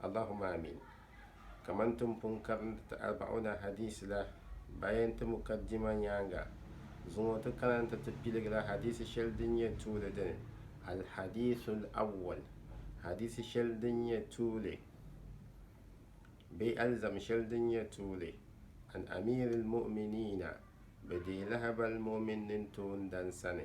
Allahumma Aamiin. Kaman ti ni pun karindi ti Arba'una hadiisi la baya nti Mukaddima nyaaŋa zuŋɔ ti kana nti ti piligila hadiisi shɛli din nyɛ tuuli dini, Al-Hadiisul Awwal, Hadiisi shɛli din nyɛ tuuli bee alizama shɛli din nyɛ tuuli, An Amiiril Mu'miniina, Bɛ deei lahibal mu'min nintoondana sani,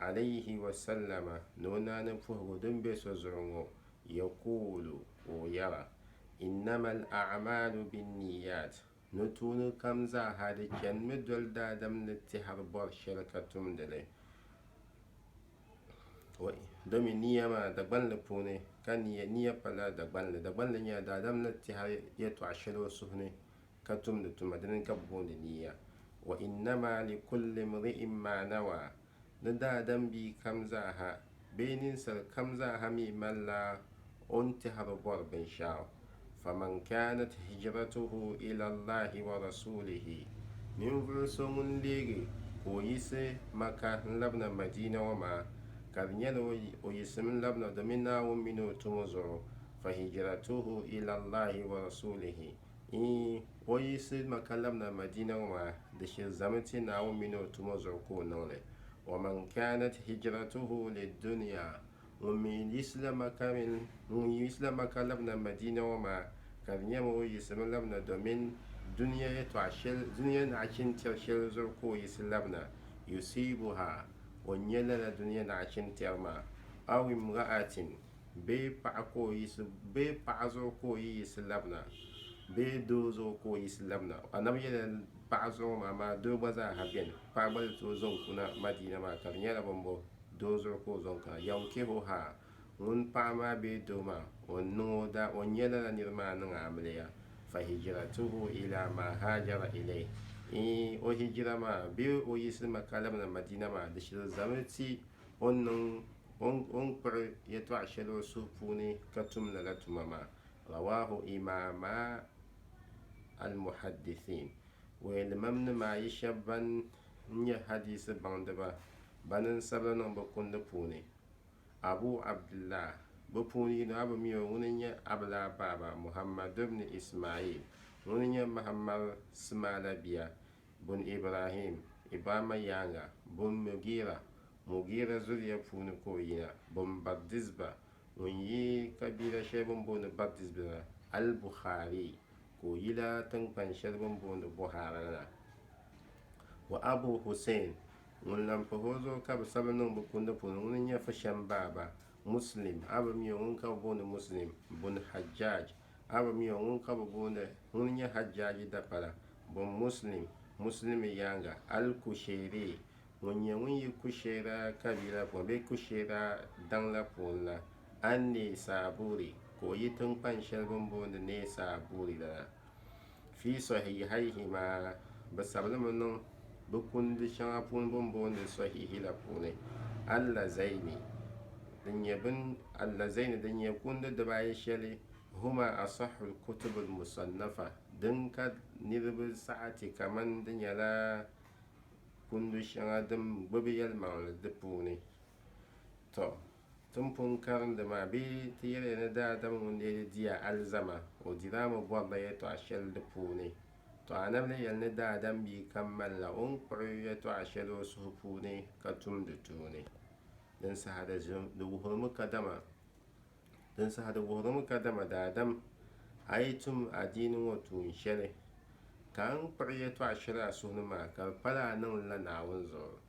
alayhi wa sallama ni o naani puhigu din be so zuɣu ŋɔ, yakuulu ka o yɛra, Innamal a'maalu binniyyat, nutuuni kam zaaha di chanimi doli daadam ni tɛhiri bɔri shɛli ka tumdi li, domi niya maa Dagbanli puuni ka niya pala Dagbanli, Dagbanli nyɛla daadam ni tɛhiri yɛltɔɣa shɛli o suhu ni ka tumdi tuma dini ka bɛ booni niiya, wa innama likulli mri'in ma nawaa, ni daadam bia kam zaaha bee ninsal kam zaaha mi malila o ni tɛhiri bɔri binshɛɣu, faman kaanat hijratuhu ila Allahi wa rasuulihi, ninvuɣu so ŋun leegi ka o yiɣisi Maka n-labina Madiina ŋɔ maa, ka di nyɛla o yiɣisimi labina domin Naawuni mini o tumo zuɣu, fa hijratuhu ila Allahi wa rasuulihi, Iin, o yiɣisi Maka labina Madiina ŋɔ maa, di shilizami ti Naawuni mini o tumo zuɣu ka o niŋ li. Wa man kaanat hijratuhu lidduniya, ŋun mi yiɣisila Maka mini, ŋun yiɣisila Maka labina Madiina ŋɔ maa, ka di nyɛmi o yiɣisimi labina domin dunia yɛtɔɣ shɛli, dunia naɣichini tɛri shɛli zuɣu ka o yiɣisi labina, yusiibuha, o nya lala dunia naɣichini tɛri maa, aw imra'atin, bee paɣa ka o yiɣisi, bee paɣa zuɣu ka o yi yiɣisi labina, bee doo zuɣu ka o yiɣisi labina. Annabi yɛla paɣa zuɣu ŋɔ maa, amaa doo gba zaa ha beni. Paɣa gba ni tooi zaŋ kuna Madiina maa, ka di nyɛla bini bɔ doo zuɣu ka o zaŋ kana. Yankihuhaa, ŋun paɣa maa bee doo maa o ni niŋ o daa, o ni nyɛ lala niri maa niŋ amiliya, fa hijiratuhu ilaa maa haajara ilayhi, iin o hijira maa bee o yiɣisi Makka labina Madiina maa di shiri zami ti O ni niŋ, o ni, o ni kpuɣi yɛtɔɣ shɛli o suhu puuni ka tum lala tuma maa. Rawaahu Imaama Al-Muhaddithiin, Wuhilimamni maa yi shɛba ban nyɛ hadiisi baŋdiba bani n-sabila niŋ bɛ kundi puuni, Abu Abdillah, bɛ puuni yino, a bi mi o, ŋuni n-nyɛ Abilaa baaba, Muhammad ibn Ismail, ŋuni n-nyɛ Mahammad Simaala bia, bun Ibrahim, Ibrahimma yaaŋa, bun Mugira, Mugira zuliya puuni ka o yina, bun Bardizba, ŋun yi kabila shɛli bini booni Bardizba la, Al-Bukhari, ka o yila tiŋkpan shɛli bini booni Buhara la, wa Abu Husayn, ŋun lan pahi o zuɣu ka bɛ sabi niŋ bɛ kundi puuni, ŋuni n-nyɛ Fushem baaba, Muslim, a bi mi o, ŋun ka bɛ booni Muslim, bun Hajjaj, A bi mi o ŋun ka bi booni ŋuni nyɛ Hajjaaji dapala bun Muslim, Muslimi yaaŋa, Al-Kushairi, ŋun nyɛ ŋun yi Kushaira kabiila puuni bee Kushaira daŋ la puuni la, An-Naysaburi, ka o yi tiŋkpan shɛli bini booni Naysaburi la na. Fi sɔhihayhima, bɛ sabulimi niŋ bɛ kundi shɛŋa puuni bɛ ni booni sɔhihi la puuni, Allazayni din nyɛ bin Allazayni din nyɛ kundi dibaayi shɛli, huma asahhul kutubul musannafa din ka niriba saɣa ti kaman di nyɛla kundi shɛŋa din gbibi yɛlimaŋli di puuni. Tɔ! Timpun karindi maa bee ti yɛliya ni daadam ŋun dee di diya alizama, o dila mi bɔrila yɛtɔɣ shɛli di puuni. Tɔ! Anabi ni yɛli ni daadam bia kam malila o ni kpuɣi yɛtɔɣ shɛli o suhu puuni ka tum di tuuni. Din saha di wuhirimi kadama Din saha di wuhirimi kadama daadam a yi tum adiini ŋɔ tuun shɛli ka a ni kpuɣi yɛtɔɣ shɛli a suhu ni maa ka di pala a niŋ li la Naawuni zuɣu.